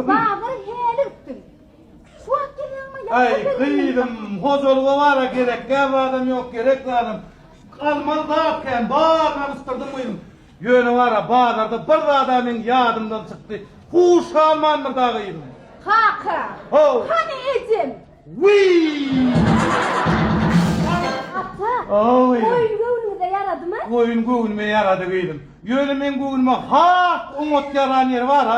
Bazary häli gitdim. Şu wagt gelýäňmi? Aý, gyzym, hojalyga bara gerek, gäp adam ýok, gerek adam. Almaly zat kän, baryny alyşdyrdym gyzym. Ýöne bara bazarda bir zada meniň ýadymdan çykdy. Huş salman bir dagy gyzym. Kaka. Ho. Hany ejem? Ata, goýun göwnüňize ýaradymy? Goýun göwnüme ýarady gyzym. Ýöne meň göwnüme has oňat ýaran ýeri bar-a.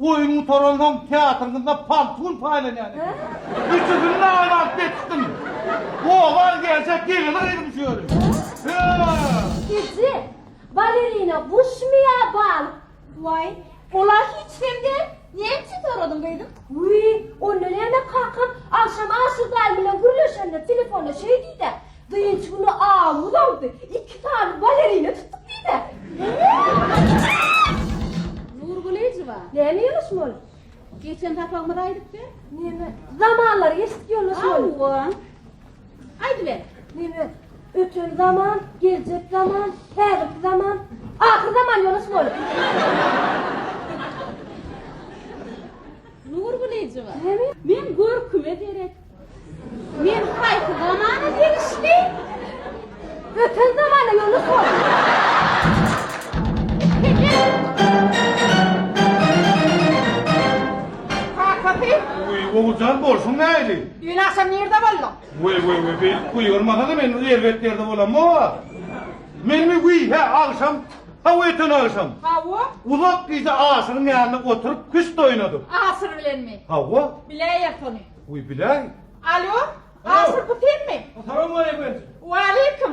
Goýun gutaransoň teatryňyzda paltun paýlanýar eken. Üçüsini naýyl alyp getirdim. Oba-a geljek gelini gyzym şu ýeri. Eje, balerina guşmy ýa balyk? Waý, ol-a hiç hem däl. Näme üçin soradyň, gyzym? Wiý, onda näme kakam, agşam Aşyr däl bilen gürleşende telefonda şeý diý-dä, Dynç güni awumyz awdy, iki sany balerina tutduk diý-dä. Nurgulyjewa, Näme ýolaşmaly? geçen sapagymyzy aýdyp ber. Näme, zamanlar geçdik, ýolaşmaly. Hawa. Aýdyber, neme? Öten zaman, geljek zaman, häzirki zaman, ahyr zaman ýonuş bolup. Nur Gulyjowa. Neme? Men görküme derek. Men haýsy zamana degişli? Öten zamana ýonuş bolup. Kakasy. Oguljan bolsun näli? Düýn agşam nirde bolduň? Weý weý weý beýdip gygyrmasana men erbet ýerde bolamok a. Menmi wiý hä agşam haw öten agşam. Hawa. Uzak gije aşygyň ýanynda oturyp küşt oýnadyk. Aşyr bilenmi? Hawa. Biläýer sony. Wiý biläý. Alo. Aşyr bu senmi? Salam aleýkum. Waleýkum.